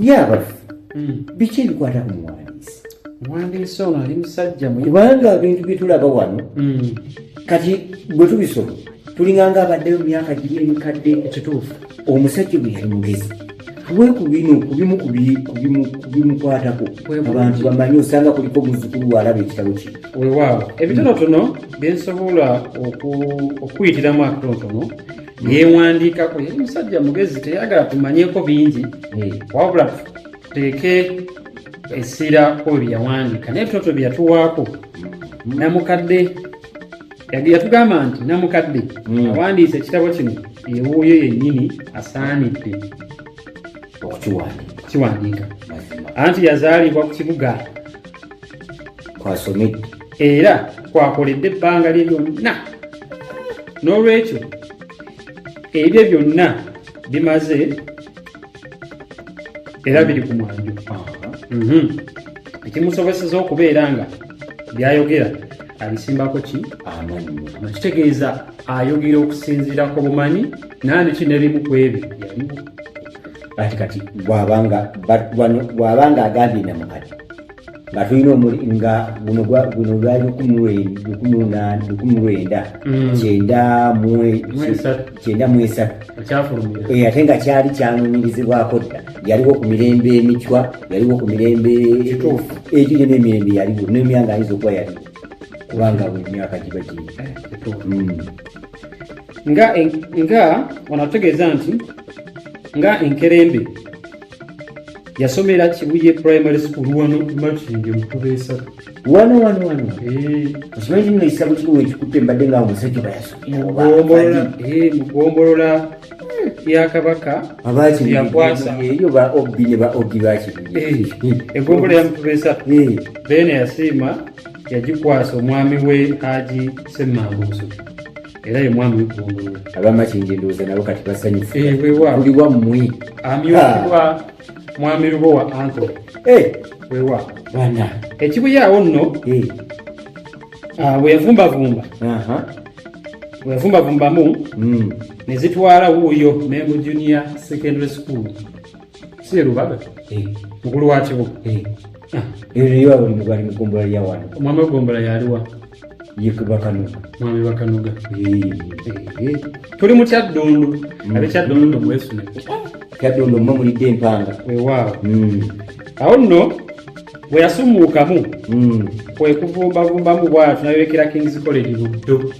yabaffe hmm. biki ebikwata ku muwandiisi muwandiisi ono ali musajja kubanga ebintu byetulaba wano hmm. kati bwe tubisoma tulinganga abaddeyo mu myaka giri emikadde ekituufu omusajja bwe yali mugezi we ku bino ku bimu ku bimu ku bimukwatako abantu bamanyi osanga kuliko muzukulu waalaba ekitabo kino wewaawo ebitonotono byensobola okuyitiramu akatonotono yewandiikako yali musajja mugezi teyagala tumanyeko bingi eh. wabula tuteeke essira ku ebyo yawandiika naye ebitonotono byeyatuwaako namukadde yatugamba nti namukadde hmm. awandiisa ekitabo kino ewuuyo yennyini asaanidde okukiwandiika anti yazaalibwa ku kibuga kwasomedde era kwakoledde ebbanga lye lyonna n'olwekyo ebyo byonna bimaze era biri ku mwanjo mhm. ekimusoboseza okubeera nga byayogera abisimbako ki amannya kitegeeza ayogera okusinziira ku bumanyi nandi ki nebimu ku ebyo yaliwo kati kati bwabanga agambye namukati nga tulina omuli nga guno guno gwali lukumi lunaana lukumi lwenda mm. kyenda kyenda mu esatu eh, ate nga kyali kyanonyirizibwako dda yaliwo ku mirembe emicwa yaliwo ku mirembe egiri n'emirembe yaliwo nemyanga ayinza okuba yaliwo kubanga buli myaka giba giri mm. nga nga wano atutegeeza nti nga enkerembe yasomera kibuye primary school wano matinge mukuba esatu wano wano wano eh. okimanyi kino ekisabo kino ekikutte mbadde nga omusajja bayasomugombolola eh, hmm. yakabaka yakwasaaeyo ba obi ne ba obi bakibuye eh, egombolola yamukuba esatu beene yasiima yagikwasa omwami we haji semmangusu era ye mwami weggombolola abamakingi ndowooza nabo kati basanyufu eh, wewa buli wammwe amyukibwa ah. mwami lubo wa anto eh. wewa bana ekibuyaawo nno eh. ah, weyavumbavumba weyavumbavumbamu hmm. ne zitwala wuuyo mengo junior secondary school si erubaga eh. mukulu wa kibuga eh. ah. eriyo abuli mubali mugombola lya wano omwami wegombola yaliwa yekubakanuga mwami bakanuga eh, tuli mu kyaddundu mm. abe kyaddundu mwesune kyaddundu mwe mulidde empanga wewaawo mm. awo nno bwe yasumuukamu mm. kwekuvumbavumbamubwatu nayolekera kings college buddo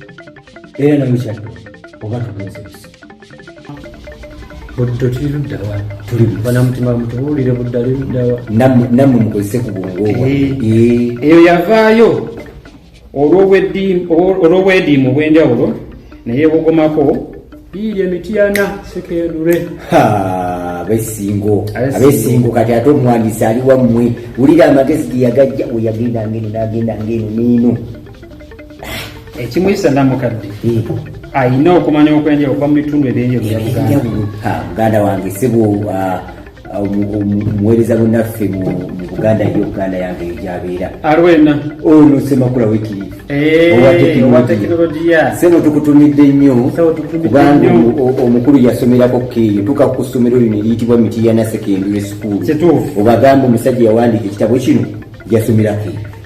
era nawe kyadde oba tubuuzebisa buddo tuli luddawa tuli bana mutima mutubuulire budda li luddawa nammwe mukozese ku bwongo eh, eh. eyo yavaayo olw'obwediimu obw'enjawulo naye bugomako biiri emityana sekeerure abesingo abesingo kati ate omuwandiisi ali wammwe wulira amagezi ge yagajja weyagenda ngeno nagenda ngeno neeno ekimuyisa namukadde eh. ayina okumanya okwenjawulo kuba mu bitundu ebyenjawulomuganda eh, wange sibu ah, ah, omuweereza bunaffe mu buganda yo buganda yange gyabeera alwena olusemakula oh, wekiri eh, owa tekinologiya sebo tukutumidde nnyo kubanga omukulu yasomerako keeyo tuka ku ssomero lino eriyitibwa mitiyana secondary school obagambe omusajja yawandiika ekitabo kino yasomerako eyo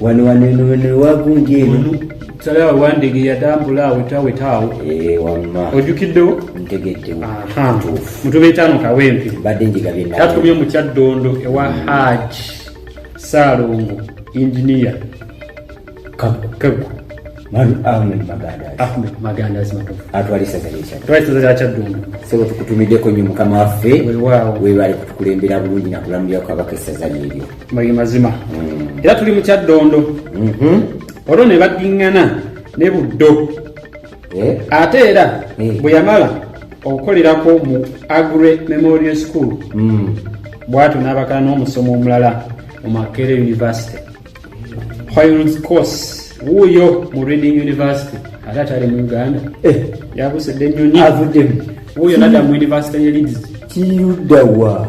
wano wano eno wano ewagunja eno salawo wandege yatambula awo tawetaawo eh, wamma ojukiddewo ntegeddewo mutuba etaano kawempe badde njigabye natumye mu kyaddondo ewa mm. haj saalongo inginiya kagu atwalisazalyakyaddondosebo nyo mukama waffe webale kutukulembera bulungi nakulamulira kwabaka esaza lyeryo bali mazima mm. era tuli mukyaddondo mm-hmm. olwo ne baddiŋŋana ne buddo eh? ate era eh. bwe yamala okukolerako mu agre memorial school mm. bwatyo n'abakala n'omusomo omulala mu makere university hoyls course wuuyo mu reading university ate atali mu uganda eh. yabusidde ennyonyi avuddemu wuuyo nadda mu university ye leads kiyudawa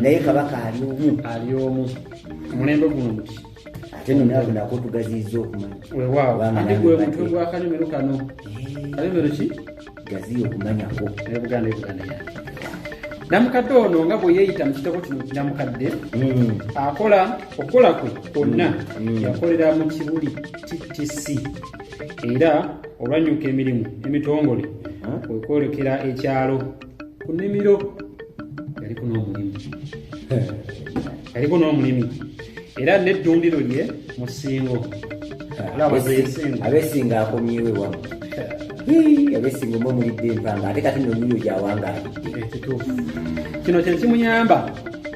naye kabaka ali omu ali omu mulembe guno muti ate no nawe nako tugaziiza okumanya wewaawo ate gwe mutwe gwa kanyomero kano kanyomero ki gaziya okumanyako naye buganda ebuganda yange namukadde ono nga bwe yeeyita mu kitabo kino kinamukadde hmm. akola okukola kwe kwonna hmm. Hmm. yakolera mu kibuli ttc era olwanyuka emirimu emitongole kwekwolekera ekyalo ku nimiro yaliko n'omulimi yaliko n'omulimi era n'eddundiro lye mu ssingo abesinga akomyewe wa abesinga omu omulidde empanga ate kati nomuyo gyawangaali ekituufu kino kyekimuyamba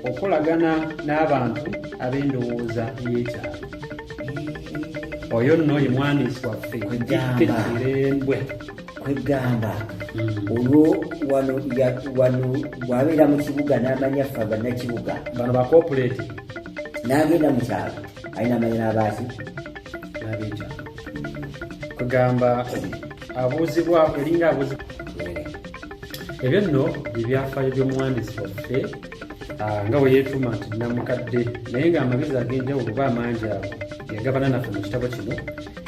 okolagana n'abantu ab'endowooza y'ekyalo oyo nno ye mwandiisi waffe embwe kwegamba olwo wano ya- wano bwabeera mu kibuga n'amanya ffe abannakibuga bano ba corporate n'agenda mu kyalo alina amanya n'abaaki nabeja kugamba abuuzibwa elinga abuuzibwa ebyo nno ebyafaayo by'omuwandiisi waffe ah, nga bwe yeetuuma nti namukadde naye ng'amagezi ag'enjawulo oba amangi ago yagabana naffe mu kitabo kino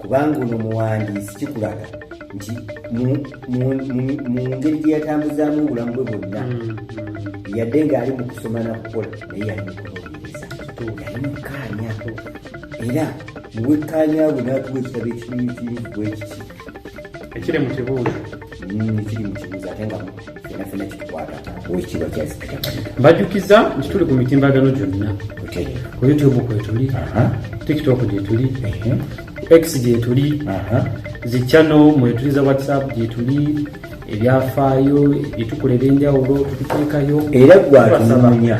kubanga ono muwandiisi kikulaga nti mu ngeri gye yatambuzaamu obulamu bwe bwonna mm, mm. yadde ng'ali mu kusoma nakukola naye yali mukunoonyereza yali mukaanya era muwekkaanya bwe n'atuwa ekitabo ekirimu kirimu bwekiti ekiri mu kibuuzo mm, ekiri mu kibuuzo ate nga mbajukiza nti tuli ku mitimbagano gyonna ku youtube kwetuli tiktok gyetuli x gyetuli zichano mwetuli za whatsapp gyetuli ebyafaayo byetukola ebyenjawulo tukuteekayo era gwatunoonya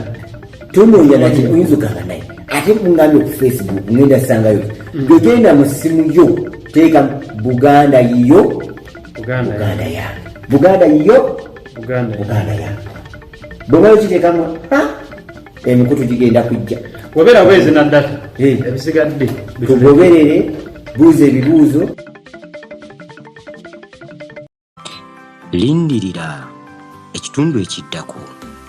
tunoonya nati oyinza ogamba naye ate mungambye ku facebook ngenda sangayo mm. gwegenda mu ssimu yo teeka buganda yiyo buganda yange buganda yo buganda yange bweba okitekamu emikutu gigenda kujja wabera bwezi nadata eh. ebisigadde tugoberere buuza ebibuuzo lindirira ekitundu ekiddako